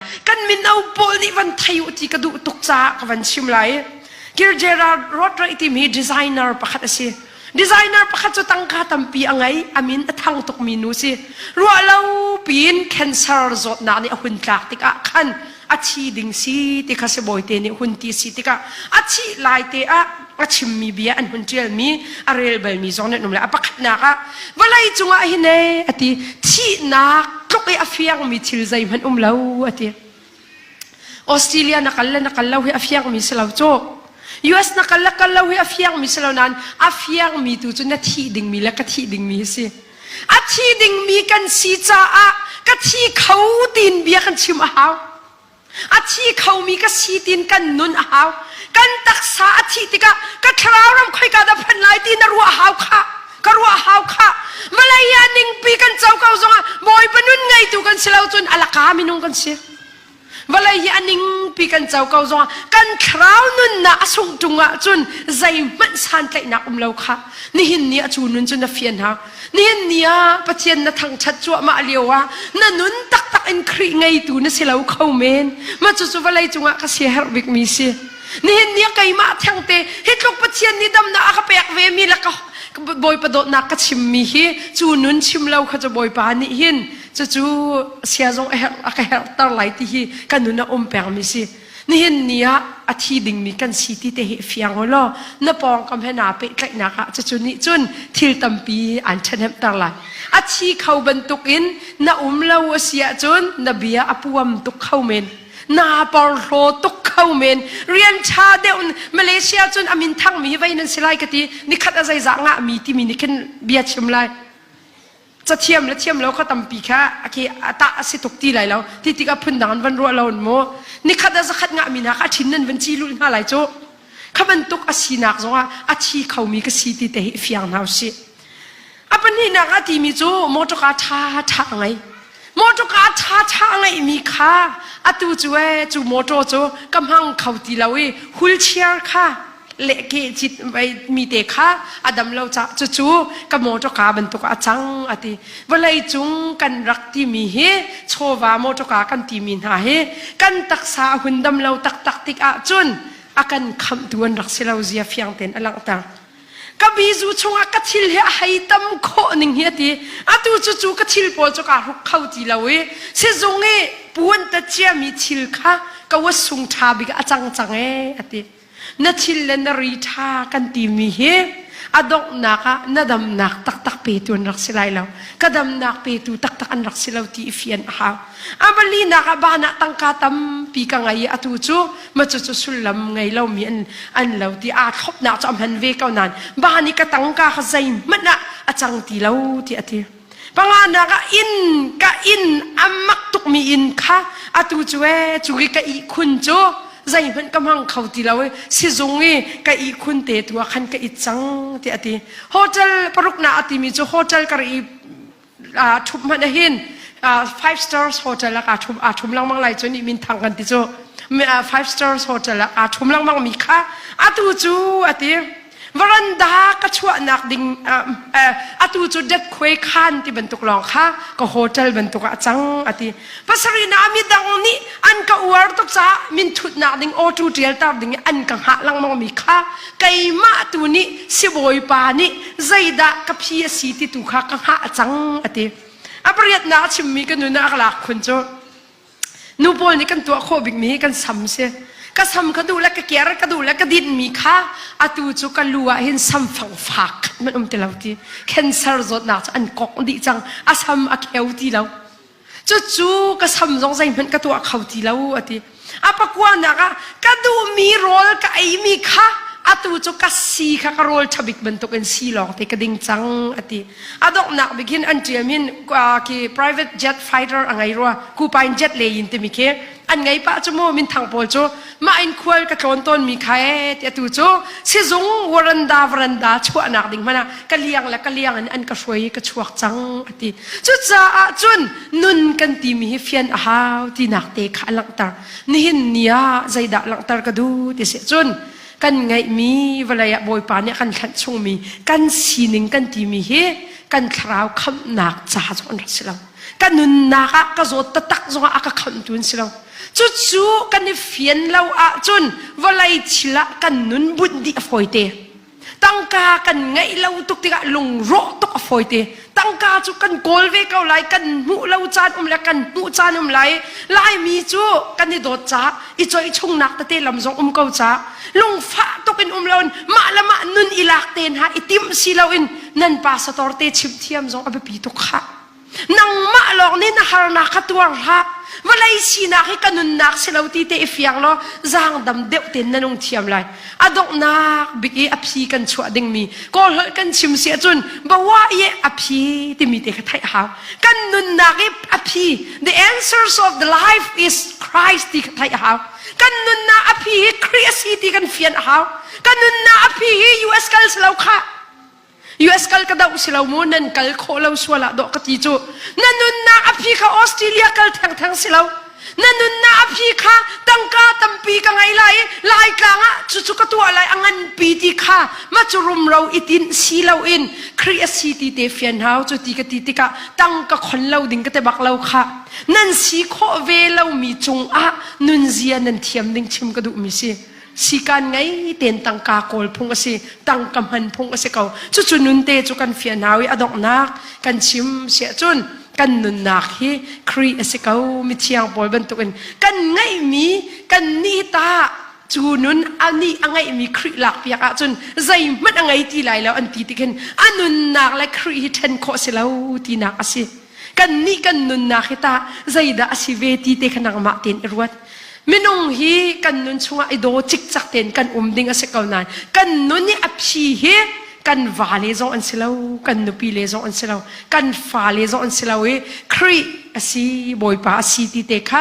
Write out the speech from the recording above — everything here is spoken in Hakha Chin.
kan mino pawl nih van thei u ti ka duh tuk caah ka van chim lai Kir Gerard Rotre tim hi designer pakhat a si designer pakhat cu tangka tampi a ngei a min a thang tukmi nu si ruah lo piin cancer zawtnak nih a hun tlak tikah khan a thi ding si ti kha si bawite nih hun ti si tikah a thih lai te ah a chimmi bia an hun ṭialmi a rel balmi zong nan um lai a pakhatnak ah vawlei cungah hin e a ti thihnak tluk i a fiangmi thil zeihmanh um lo a ti Australia na kal le na kal lo hi a fiangmi si lo cu US na kal le kal lo hi a fiangmi si lo nain a fiangmi tu cu na thih dingmi le ka thih dingmi si a thi dingmi kan si caah ka thi kho tiin bia kan chim a hau a thi khomi ka si tiin kan nun a hau kan taksa a thih tikah ka thlarau ram khoi ka dah phan lai ti na ruah hau kha ka ruah hau kha Malaya ningpi kan co ko zongah bawipa nun ngeitu kan si lo cun alaka minung kan si vawlei hi aningpi kan co ko zongah kan thlarau nunnak a sung ṭung ah cun zeihmanh santlaihnak um lo kha nihin ni a cu nun cu na fian hau Nihin ni ah Pathian na thangṭhat cuahmah lioah na nun taktak in Khrih ngeitu na si lo kho men. Mah cucu vawlei cungah ka siaherh bikmi si. Nihin ni ah keimah thengte hi tluk Pathian nih damnak a ka pek vemi le ka Bawipa dawtnak ka chimmi hi cu nun chim lo kha cu Bawipa nih hin cucu sia zong a ka herhter lai ti hi ka nun a um pengmi si. Nihin ni ah a thi dingmi kan si ti te hi fiang ho law na pawngkam he naa pehtlaihnak ah cucu nih cun thil tampi aan ṭhahnemter lai. A thi kho bantuk in na um lo a si ahcun na bia a puam tuk kho men. Naa porhlaw tuk kho men. Rian ṭha deuh in Malaysia cun a minthangmi hi vei nan si lai ka ti. Nikhat a zeizah ngahmi timi nih khin bia chim lai. cathiam le thiam lo kha tampi kha ake atah a si tuk ti lai lo ti tikah phundang an van ruah lo in mu nikhat a zakhat ngah mi hna kha thin nan van ci lul hna lai cu kha bantuk a sinak zongah a thi kho mi ka si ti te hi fiang hna usih a pahnihnak a ti mi cu motor car tha tha a ngei motor car tha tha a ngei mi kha atu cu e cu motor cu ka hmang kho ti lo i hulchiar kha le ke cit mi te kha a dam lo cucu ka motor car bantuk a cang a ti vawlei cung kan rak timi hi chawva motor car kan timi hna hi kan taksa a hun dam lo taktak tik ah cun a kan khamtu an rak si lo zia fiang ten a langhter ka bizu chungah ka thil hi a hei tam khawh ning hi ati atu cu cu ka thil pawl cu ka ruk kho ti lo i sizung i puan ta chia mi thil kha ka wa sung tha bik a cang cang e ati na thil le na ri ṭha kan timi hi a donghnak ah na damnak taktak petu an rak si lai lo ka damnak petu taktak an rak si lo ti i fian a hau a malinak ah ban ah tangka tampi ka ngei i atu cu ma cu cu sullam ngei lomi an an lo ti aa thlopnak cu a hman ve ko nain ban i ka tangka kha zeihmanh ah a cang ti lo ti a ti panganak ah inn ka inn a mak tukmi inn kha atu cu e cu i ka ihkhun cu zeihmanh ka hmang kho ti lo i sizung i ka ihkhun te tu ah khan ka it cang tiah a ti hotel paruk na a timi cu hotel ka ri uh, thup hmanh ahin uh, five stars hotel ah kaa thum aa thum lengmang lai cu nih min thang kan ti cu uh, five stars hotel ah aa thum lengmang mi kha atu cu a ti Veranda ka chuahnak ding atu cu depkhuai khan ti bantuk lawng kha ka hotel bantuk ah cang a ti. Pasarina midang nih an ka uar tuk caah min thutnak ding awtu ṭialter ding i an ka hngah lengmangmi kha keimah tu nih sibawipa nih zeidah ka phi a si ti tu kha ka hngah cang a ti. A pariatnak a chimmi ka nun ah a ka lak khun cu Nu pawl nih kan tuah khawh bikmi hi kan sam si. Ka sam ka duh le ka ker ka duh le ka dinmi kha atu cu ka lu ah hin samfang fak khat man um ti lo ti. Cancer zawtnak cu an kok dih cang. A sam a kheu ti lo. Cucu ka sam zong zeihmanh ka tuah kho ti lo a ti. A pakuanak ah ka duhmi rawl ka eimi kha atu cu ka si kha ka rawl thabik bantuk in si lawng te ka ding cang a ti. a donghnak bik in an ṭiam in ki private jet fighter a ngei rua kupa in jet le in timi khi an ngei pah cu mu minthang pawl cu mah in khual ka tlawn tawn mi kha e ti tu cu sizung waranda varanda chuahnak ding mana ka liang la ka liang an ka hruai i ka chuak cang ati cucaah cun nun kan ti mi hi fian a hau ti nak te kha langtar nihin nia zeidah langtar ka du ti se cun kan ngeihmi vawlei ah Bawipa nih a kan hlanh chungmi kan sining kan timi hi kan thlarau khamhnak ca zong an rak si lo ka nunnak ah ka zawt tatak zongah a ka khamhtu an si lo cucu kan i fian lo ahcun vawlei thil ah kan nun bunh dih a fawite tangka kan ngeih lo tuk tikah lungrawh tuk a fawite tangka cu kan kawl ve ko lai kan hmuh lo caan um le kan hmuh caan um lai laimi cu kan i dawt ca i choi chungnak tete lam zong um ko ca lungfah tuk in um loin mah le mah nun i lak te hna i tim si loin nan pa sator te chim thiam zong a biapi tuk kha nangmah lawng nih na harnak kha tuar hlah vawlei sinak hi ka nunnak si lo ti te i fiang law zang dam deuh ten na nung thiam lai a donghnak bik i a phi kan chuah dingmi kawl holh kan chim si ahcun bawa i a phi timi te kha theih a hau kan nunnak i a phi the answers of the life is Christ ti kha theih a hau kan nunnak a phi hi Christ ti kan fian a hau kan nunnak a phi hi US kal si lo khah US kal ka doh si lo mu nan kal khawh lo sual ah dawh ka ti cu na nunnak a phi kha Australia kal theng theng si lo na nunnak a phi kha tangka tampi ka ngei lai lai tlang ah cucu ka tuah lai a nganpi ti kha ma cu rumro itin si lo in kri a si ti te fian hau cu ti ka ti tikah tang ka khon lo ding ka te bak lo kha nan si khawh ve lo mi cung ah nunzia nan thiam ding chim ka duh mi si sikan ngei tein tangka kawl phung a si tangka hman phung a si ko cucu nunte cu kan fian hau i adonghnak kan chim siah cun kan nunnak hi kri a si ko mi thiang pawl bantukin kan ngeihmi kan nih ta cu nun ani a ngeihmi kri lak piak ahcun zeihmanh a ngei ti lai lo an ti tikhin a nunnak le kri hi ṭhen khawh si lo tinak a si kan nih kan nunnak hi tah zeidah a si ve ti te kha nangmah tein i ruat minung hi kan nun chungah i daw cikcak tein kan um ding a si ko nain kan nun i a phi hi kan va le zong an si lo kan nupi le zong an si lo kan fa le zong an si lo i khrih a si bawipa a si ti te kha